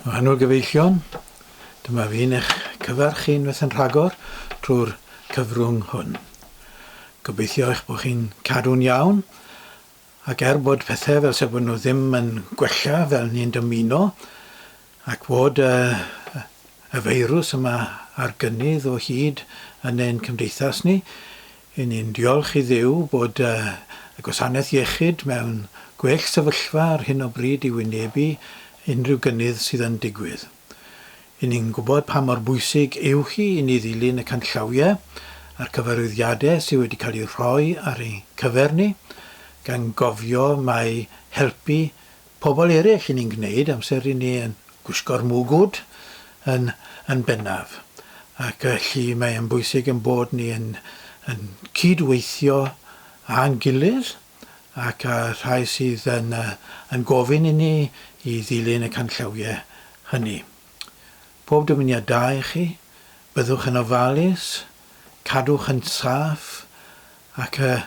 Rhannwr gyfeillion, dyma fi'n eich cyfarch chi unwaith yn rhagor trwy'r cyfrwng hwn. Gobeithio eich bod chi'n cadw'n iawn, ac er bod pethau fel se bod nhw ddim yn gwella fel ni'n dymuno, ac fod y, y feirws yma ar gynnydd o hyd yn ein cymdeithas ni, Yn ni'n diolch i Dduw bod y gwasanaeth iechyd mewn gwell sefyllfa ar hyn o bryd i wynebu unrhyw gynnydd sydd yn digwydd. Yn ni'n gwybod pa mor bwysig yw hi i ni ddilyn y canllawiau a'r cyfarwyddiadau sydd wedi cael eu rhoi ar ein cyfer ni, gan gofio mai helpu pobl eraill yn ein gwneud amser i ni yn gwisgo'r mwgwd yn yn bennaf ac felly mae e'n bwysig ein bod ni yn yn cyd-weithio â'n gilydd ac â rhai sydd yn yy yn gofyn i ni i ddilyn y canllawiau hynny. Pob dymuniad da i chi, byddwch yn ofalus, Cadwch yn saff ac yy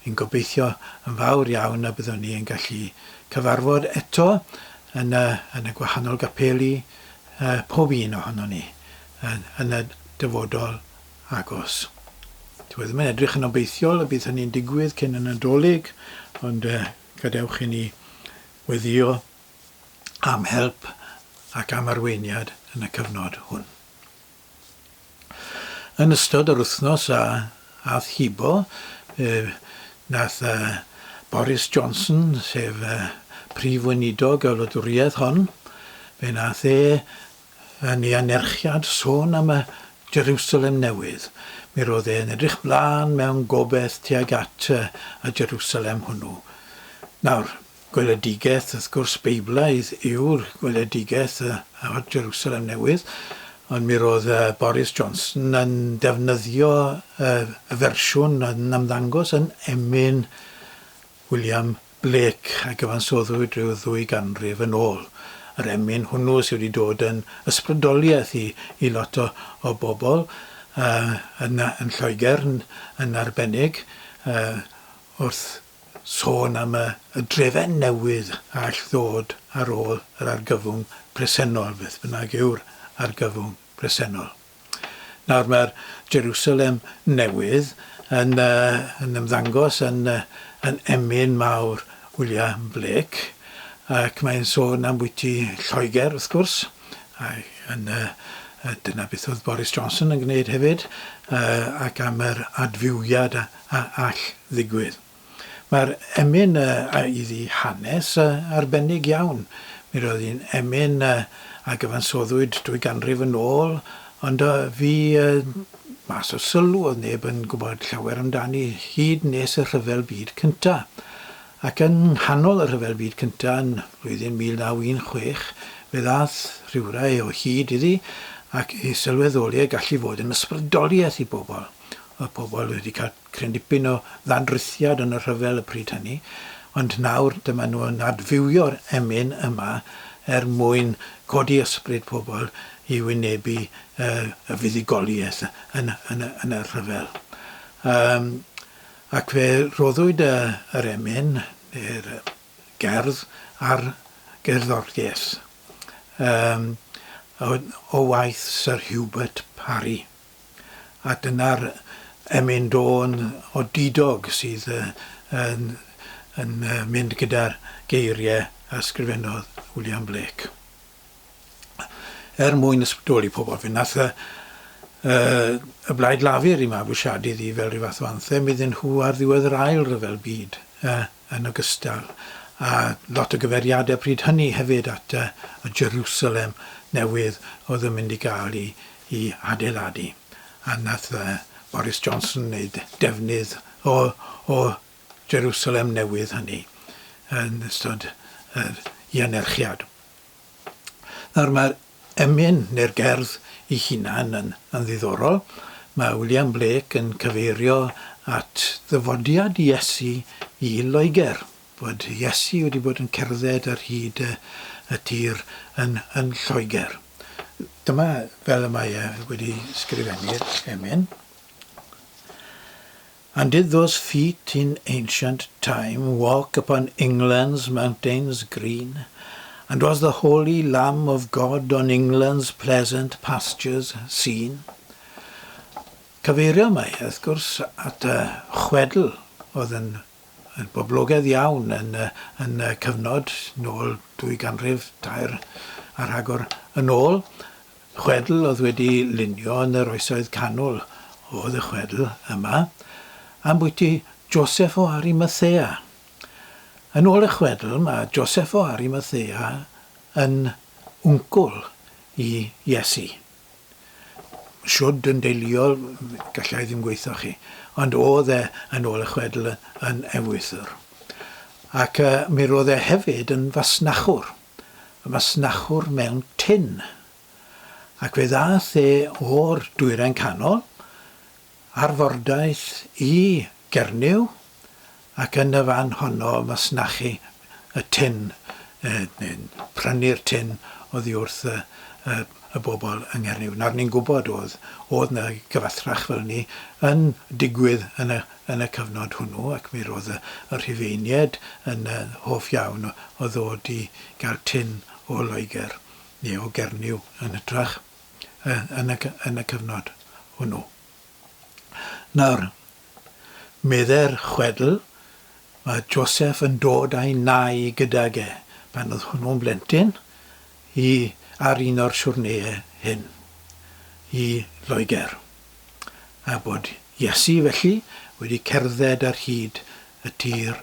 yn gobeithio yn fawr iawn y byddwn ni yn gallu cyfarfod eto yn y yn y gwahanol gapeli yy pob un ohonon ni yn yn y dyfodol agos. Dyw e ddim yn edrych yn obeithiol y bydd hynny'n digwydd cyn y Nadolig ond yy gadewch i ni weddio am help ac am arweiniad yn y cyfnod hwn. Yn ystod yr wythnos a ath hibo, fe wnaeth Boris Johnson, sef Prif Weinidog y wladwriaeth hon, fe wnaeth e yn ei anerchiad sôn am y Jerusalem Newydd. Mi roedd e'n edrych mlaen mewn gobaith tuag at y Jerusalem hwnnw. Nawr, Gweledigaeth, wrth gwrs, Beiblaidd yw'r gweledigaeth ar Jerusalem Newydd, ond mi roedd Boris Johnson yn defnyddio y fersiwn oedd yn ymddangos yn emyn William Blake a gyfansoddwyd rhyw ddwy ganrif yn ôl. Yr emyn hwnnw sydd wedi dod yn ysbrydoliaeth i i lot o o bobl yn Lloegr yn arbennig wrth sôn am y drefen newydd a all ddod ar ôl yr argyfwng presennol, beth bynnag yw'r argyfwng presennol. Nawr mae'r Jerusalem newydd yn, uh, yn ymddangos yn, uh, yn emyn mawr William Blake, ac mae'n sôn am bwyty Lloegr, wrth gwrs, a yn, uh, dyna beth oedd Boris Johnson yn gwneud hefyd, uh, ac am yr adfywiad a, a all ddigwydd. Mae'r emyn a iddi hanes arbennig iawn. Mi roedd hi'n emyn a gyfansoddwyd dwy ganrif yn ôl, ond a fu mas o sylw, oedd neb yn gwybod llawer amdani hyd nes y Rhyfel Byd Cyntaf. Ac yng nghanol y Rhyfel Byd Cyntaf, yn flwyddyn 1916, fe ddaeth rhywrai o hyd iddi ac i sylweddoli ei gallu fod yn ysbrydoliaeth i bobl. Oedd pobl wedi cael cryn dipyn o ddannrythiad yn y rhyfel y pryd hynny, ond nawr dyma nhw yn adfywio'r emyn yma er mwyn codi ysbryd pobl i wynebu y fuddugoliaeth yn y rhyfel. Yym ac fe roddwyd yr emyn, neu'r gerdd, ar gerddoriaeth yym o waith Sir Hubert Parry. a dyna'r Emyn Dôn o Didog sydd yn mynd gyda'r geiriau a sgrifennodd William Blake er mwyn ysbrydoli pobl. Fe nath y y Blaid Lafur i mabwysiadu ddi fel rhyw fath o anthem iddyn nhw ar ddiwedd yr Ail Ryfel Byd. yn ogystal â lot o gyfeiriadau pryd hynny hefyd at y Jerusalem Newydd oedd yn mynd i gael ei adeiladu, a wnaeth Boris Johnson wneud defnydd o'r Jerusalem Newydd hynny yn ystod yr i anerchiad. Nawr mae'r emyn neu'r gerdd ei hunan yn yn ddiddorol. Mae William Blake yn cyfeirio at ddyfodiad Iesu i Loegr, bod Iesu wedi bod yn cerdded ar hyd y y tir yn yn Lloegr. Dyma fel y mae e wedi sgrifennu'r emyn. And did those feet in ancient time walk upon England's mountains green? And was the holy Lamb of God on England's pleasant pastures seen? Cyfeirio mae, wrth gwrs, at y chwedl oedd yn boblogaidd iawn yn y cyfnod nôl dwy ganrif tair a rhagor yn ôl, Chwedl oedd wedi lunio yn yr Oesoedd Canol oedd y chwedl yma ambwyty Joseph o Arimathea. Yn ôl y chwedl, mae Joseph o Arimathea yn wncwl i Iesu. Shwd yn deuluol, galla i ddim gweithio chi, ond oedd e, yn ôl y chwedl, yn ewythr. Ac mi roedd e hefyd yn fasnachwr. y masnachwr mewn tin, ac fe ddaeth e o'r Dwyrain Canol, ar fordaith i Gernyw, ac yn y fan honno masnachu y tin, neu'n prynu'r tin oddi wrth y bobl yng Nghernyw. Nawr, ni'n gwybod o'dd 'na gyfathrach fel 'ny yn digwydd yn y yn y cyfnod hwnnw ac mi roedd y Rhufeiniaid yn hoff iawn o ddod i gael tin o Loegr neu o Gernyw yn hytrach yn y cyfnod hwnnw. Nawr, meddai'r chwedl, mae Joseph yn dod a'i nai gydag e pan oedd hwnnw'n blentyn i ar un o'r siwrneiau hyn i Loegr. a bod Iesu felly wedi cerdded ar hyd y tir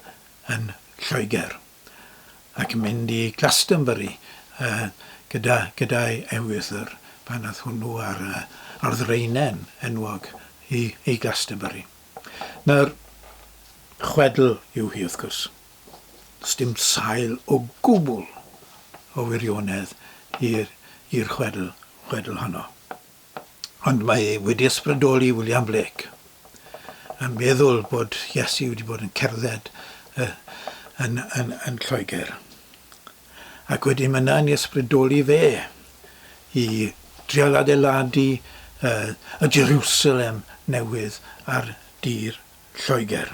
yn Lloegr, ac mynd i Glastonbury gyda gyda'i ewythr, pan ath hwnnw ar ar ddraenen enwog i i Glastonbury. Nawr, chwedl yw hi wrth gwrs, sdim sail o gwbl o wirionedd i'r i'r chwedl chwedl honno. Ond mae e wedi ysbrydoli William Blake yn meddwl bod Iesu wedi bod yn cerdded yn, yn, yn Lloegr. Ac wedyn mae yna'n ysbrydoli fe i drial adeiladu y Jerusalem newydd ar dir Lloegr.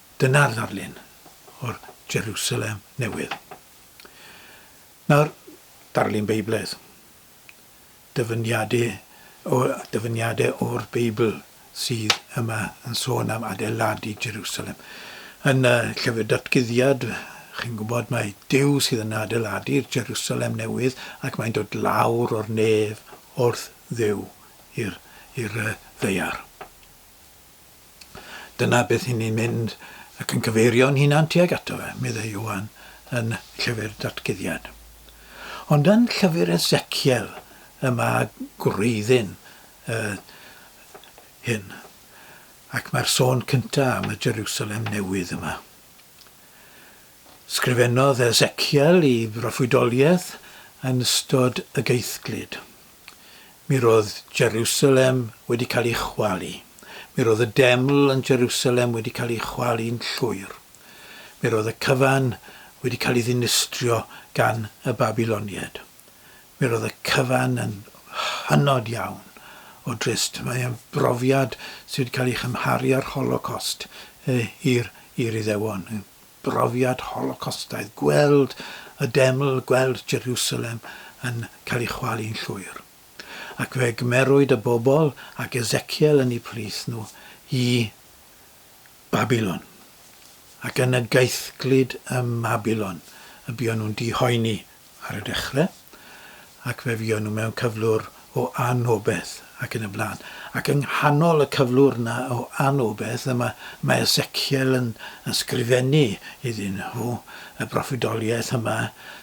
Dyna'r ddarlun o'r Jerusalem Newydd. Nawr, darlun Beiblaidd. Dyfyniadau o, dyfyniadau o'r Beibl sydd yma yn sôn am adeiladu Jerusalem. Yn y llyfr datguddiad, chi'n gwybod, mae Duw sydd yn adeiladu'r Jerusalem Newydd ac mae'n dod lawr o'r nef wrth ddew i'r i'r ddaear. Dyna beth i ni'n mynd ac yn cyfeirio'n hunan tuag ato fe, meddai Ioan yn Llyfr Datguddiad. Ond yn Llyfr Ezekiel y mae gwreiddyn uh, hyn, ac mae'r sôn cyntaf am y Jerusalem newydd yma. Sgrifennodd Ezekiel i broffwydoliaeth yn ystod y geithglyd. Mi roedd Jerusalem wedi cael ei chwalu. Mi roedd y deml yn Jerusalem wedi cael ei chwalu'n llwyr. Mi roedd y cyfan wedi cael ei ddinistrio gan y Babyloniaid. Mi roedd y cyfan yn hynod iawn o drist. Mae e'n brofiad sydd wedi cael ei chymharu â'r Holocost i'r Iddewon. brofiad Holocostaidd, gweld y deml, gweld Jerusalem yn cael ei chwalu'n llwyr. Ac fe gymerwyd y bobl ac Ezekiel yn eu plith nhw i Babilon. Ac yn y gaethglud ym Mabilon y buon nhw'n dihoeni ar y dechrau, ac fe fuon nhw mewn cyflwr o anobeth, ac yn y blaen. Ac yng nghanol y cyflwr yna o anobeth, yma mae Ezekiel yn ysgrifennu iddyn nhw y broffwydoliaeth yma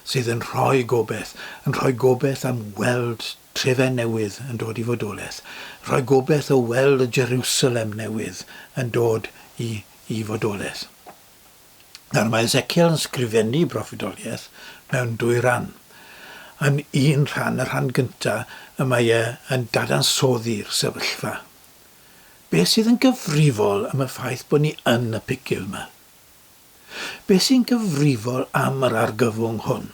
sydd yn rhoi gobaith, yn rhoi gobaith am weld trefen newydd yn dod i fodolaeth, rhoi gobaith o weld y Jerusalem newydd yn dod i i fodolaeth. Nawr, mae Ezekiel yn sgrifennu broffwydoliaeth mewn dwy ran. Yn un rhan, y rhan gyntaf, y mae e yn dadansoddi'r sefyllfa. Beth sydd yn gyfrifol am y ffaith bod ni yn y pigil yma? Beth sy'n gyfrifol am yr argyfwng hwn?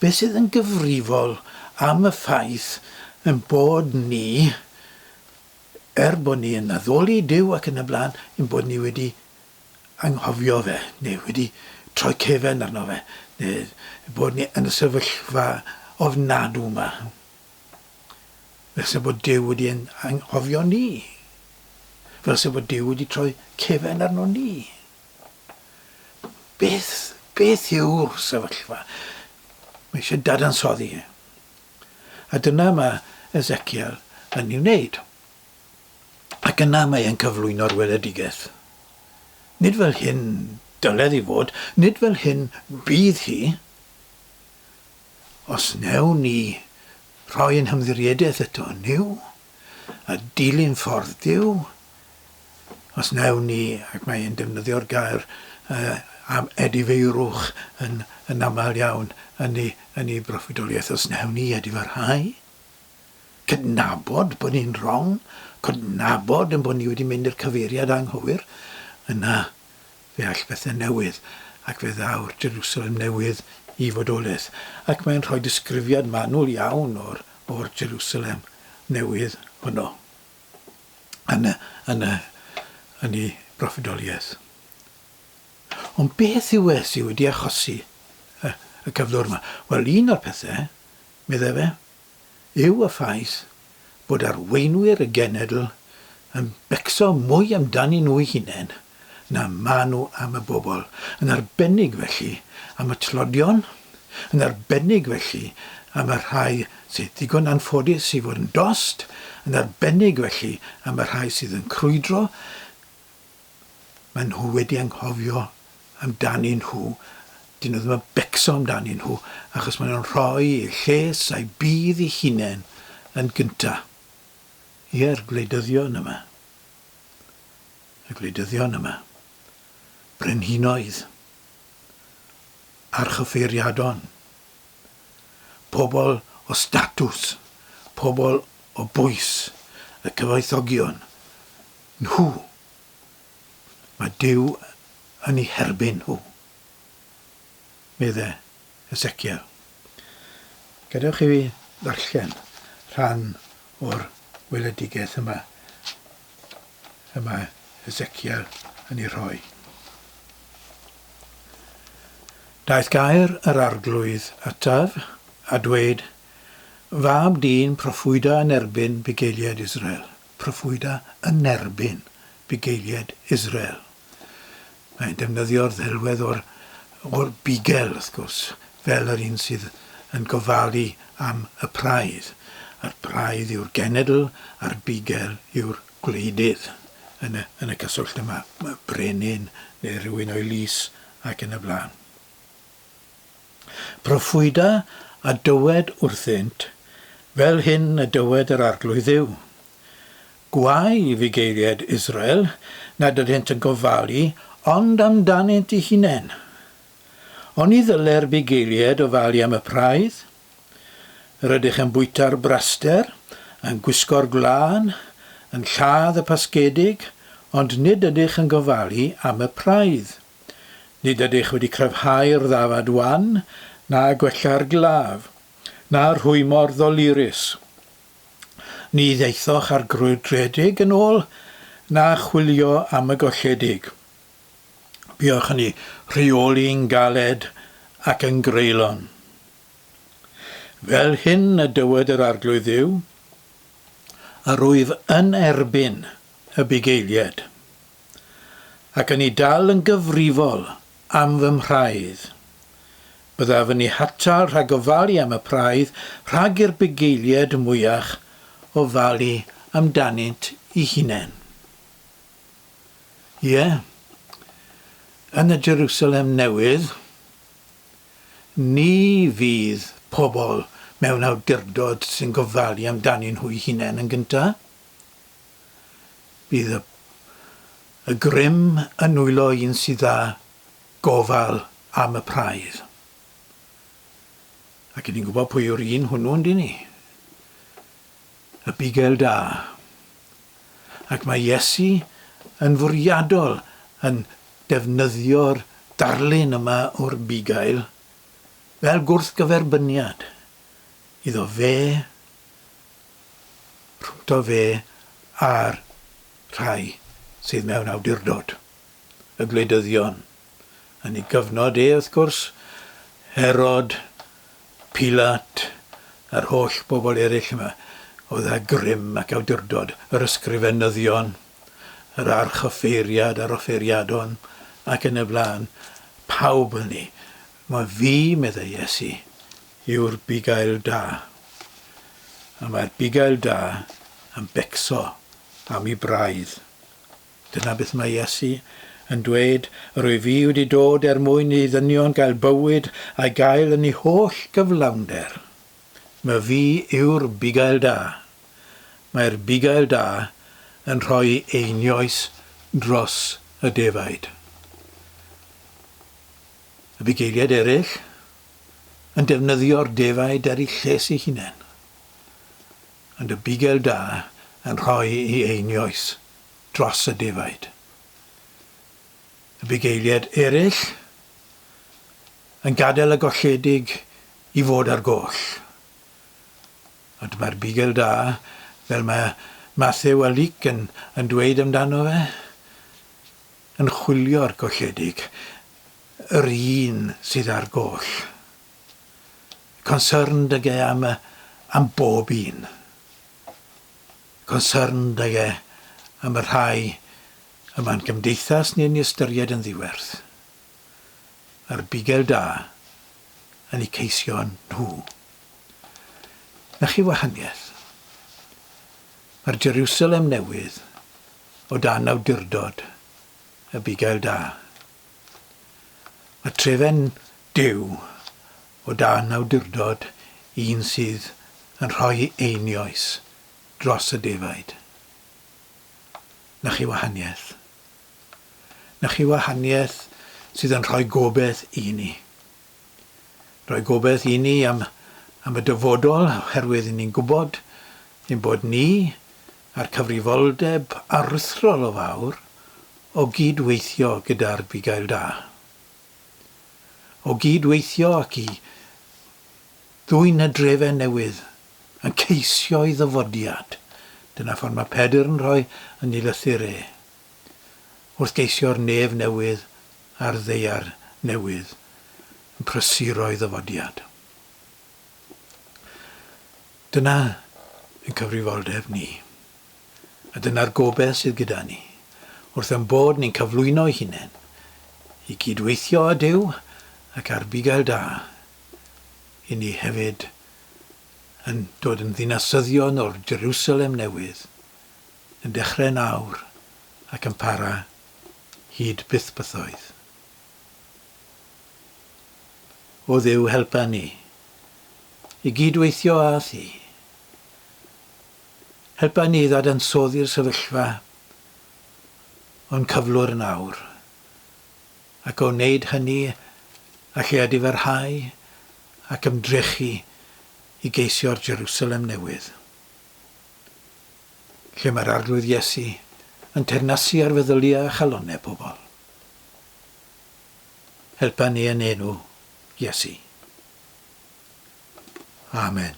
Beth sydd yn gyfrifol am y ffaith yn bod ni, er bod ni yn addoli Dyw ac yn y blaen, yn bod ni wedi anghofio fe, neu wedi troi cefn arno fe, neu bod ni yn y sefyllfa ofnadw yma. Fel se bod Duw wedi ein anghofio ni. Fel se bod Duw wedi troi cefn arno ni. Beth, beth yw'r sefyllfa? Mae eisiau dadansoddi. A dyna mae Ezekiel yn ei wneud. ac yna mae e'n cyflwyno'r weledigaeth. Nid fel hyn dyled hi fod, nid fel hyn bydd hi. Os wnewn ni rhoi ein hymddiriedaeth eto yn Nuw, a dilyn ffordd Duw, os wnewn ni, ac mae e'n defnyddio'r gair uh, am edifeirwch yn, yn aml iawn yn ei, yn ei broffwydoliaeth, os wnewn ni edifarhau, Cydnabod bod ni'n wrong, cydnabod ein bod ni wedi mynd i'r cyfeiriad anghywir, yna fe all bethe newydd, ac fe ddaw'r Jerusalem Newydd i fodolaeth. Ac mae'n rhoi disgrifiad manwl iawn o'r, o'r Jerusalem Newydd honno yn y, yn y, yn ei broffwydoliaeth. Ond beth yw e sydd wedi achosi y, y cyflwr yma? Wel, un o'r pethe, meddai fe, yw y ffaith bod arweinwyr y genedl yn becso mwy amdanyn nhw'u hunain na maen nhw am y bobl, yn arbennig felly am y tlodion, yn arbennig felly am y rhai sydd ddigon anffodus i fod yn dost, yn arbennig felly am y rhai sydd yn crwydro maen nhw wedi anghofio amdanyn nhw, dyn nhw ddim yn becso amdanyn nhw, achos maen nhw'n rhoi eu lles a'u budd eu hunain yn gynta. Ie'r gwleidyddion yma. Y gwleidyddion yma. Brenhinoedd. Archyfeiriadon. Pobl o statws. Pobl o bwys. Y cyfoethogion. Nhw. Mae Duw yn eu herbyn nhw, medde Hesekiel. Gadewch i fi ddarllen rhan o'r weledigaeth yma y mae Hesekiel yn ei rhoi. Daeth gair yr Arglwydd ataf, a dweud, Fab dyn, proffwyda yn erbyn bugeiliaid Israel, proffwyda yn erbyn bugeiliaid Israel. Mae'n defnyddio'r ddelwedd o'r, o'r bugel, wrth gwrs, fel yr un sydd yn gofalu am y praidd. A'r praidd yw'r genedl a'r bugel yw'r gwleidydd yn y, yn y cyswllt yma, brenin neu rhywun o'i lys ac yn y blaen. Proffwyda a dywed wrthynt, Fel hyn y dywed yr Arglwydd Dduw, Gwae i fugeiliaid Israel nad ydynt yn gofalu ond amdanynt eu hunain! Oni ddyle'r bugeiliaid ofalu am y praidd? Rydych yn bwyta'r braster, yn gwisgo'r gwlân, yn lladd y pasgedig, ond nid ydych yn gofalu am y praidd. Nid ydych wedi cryfhau'r ddafad wan, na gwella'r glaf, na rhwymo'r ddolurus. Ni ddaethoch â'r grwydredig yn ôl, na chwilio am y golledig. Buoch yn eu rheoli'n galed ac yn greulon. Fel hyn y dywed yr Arglwydd Dduw, Yr wyf yn erbyn y bugeiliaid. ac yn i dal yn gyfrifol am fy mhraidd. Byddaf yn i hatal rhag ofalu am y praidd rhag i'r bugeilied mwyach ofalu amdanynt i hunain. Ie, yn y Jerusalem Newydd, ni fydd pobl mewn awdurdod sy'n gofalu amdanyn nhw'i hunain yn gyntaf. Bydd y y grym yn nwylo un sydd â gofal am y praidd. Ac 'yn ni'n gwybod pwy yw'r un hwnnw, yndyn ni? Y bugail da. Ac mae Iesu yn fwriadol yn defnyddio'r darlun yma o'r bugail fel gwrthgyferbyniad iddo fe rhwngto fe a'r rhai sydd mewn awdurdod, y gwleidyddion, yn ei gyfnod e wrth gwrs, Herod, Pilat, a'r holl bobl eraill yma oedd â grym ac awdurdod, yr ysgrifenyddion, yr archoffeiriad a'r offeiriadon, ac yn y blaen, pawb hynny Mae fi, meddai Iesu, yw'r bugail da, a mae'r bugail da yn becso am ei braidd. Dyna beth mae Iesu yn dweud, rwyf i wedi dod er mwyn i ddynion gael bywyd a'i gael yn ei holl gyflawnder. Mae fi yw'r bugail da. Mae'r bugail da yn rhoi einioes dros y defaid. Y bugeiliaid eraill yn defnyddio'r defaid ar eu lles eu hunain, ond y bugail da yn rhoi i einioes dros y defaid. Y bugeiliaid eraill yn gadael y golledig i fod ar goll. Ond mae'r bugail da, fel mae Matthew a Luc yn, yn dweud amdano fe, yn chwilio'r golledig, yr un sydd â'r goll. Concerned ag e am, am bob un. Concerned ag e am y rhai y mae'n gymdeithas ni'n ei ystyried yn ddiwerth. A'r bugel da yn eu ceisio nhw. Na chi wahaniaeth? Mae'r Jerusalem Newydd o dan awdurdod y bugail da. Mae trefen Duw o dan awdurdod un sydd yn rhoi einioes dros y defaid. Na chi wahaniaeth. Na chi wahaniaeth sydd yn rhoi gobeith i ni. Rhoi gobeith i ni am, am y dyfodol, oherwydd ni'n gwybod ein bod ni a'r cyfrifoldeb aruthrol o fawr o gyd-weithio gyda'r bugail da. O gyd-weithio ac i ddwyn y drefen newydd yn ceisio'i ddyfodiad, dyna ffordd mae Pedr yn rhoi yn ei lythyr e, wrth geisio'r nef newydd a'r ddaear newydd yn prysuro'i ddyfodiad. Dyna ein cyfrifoldeb ni, a dyna'r gobaith sydd gyda ni, wrth ein bod ni'n cyflwyno'i hunain, i gyd-weithio â Duw ac â'r bugail da, i ni hefyd yn dod yn ddinasyddion o'r Jerusalem Newydd, yn dechrau nawr ac yn para hyd byth bythoedd. O Dduw helpa ni i gyd-weithio â Thi. Helpa ni i ddadansoddi'r sefyllfa o'n cyflwr nawr, ac o wneud hynny a lle a difarhau ac ymdrechu i geisio'r Jerusalem Newydd. lle mae'r Arglwydd Iesu yn teyrnasu ar feddyliau a chalonnau pobl. Helpa ni yn enw Iesu. Amen.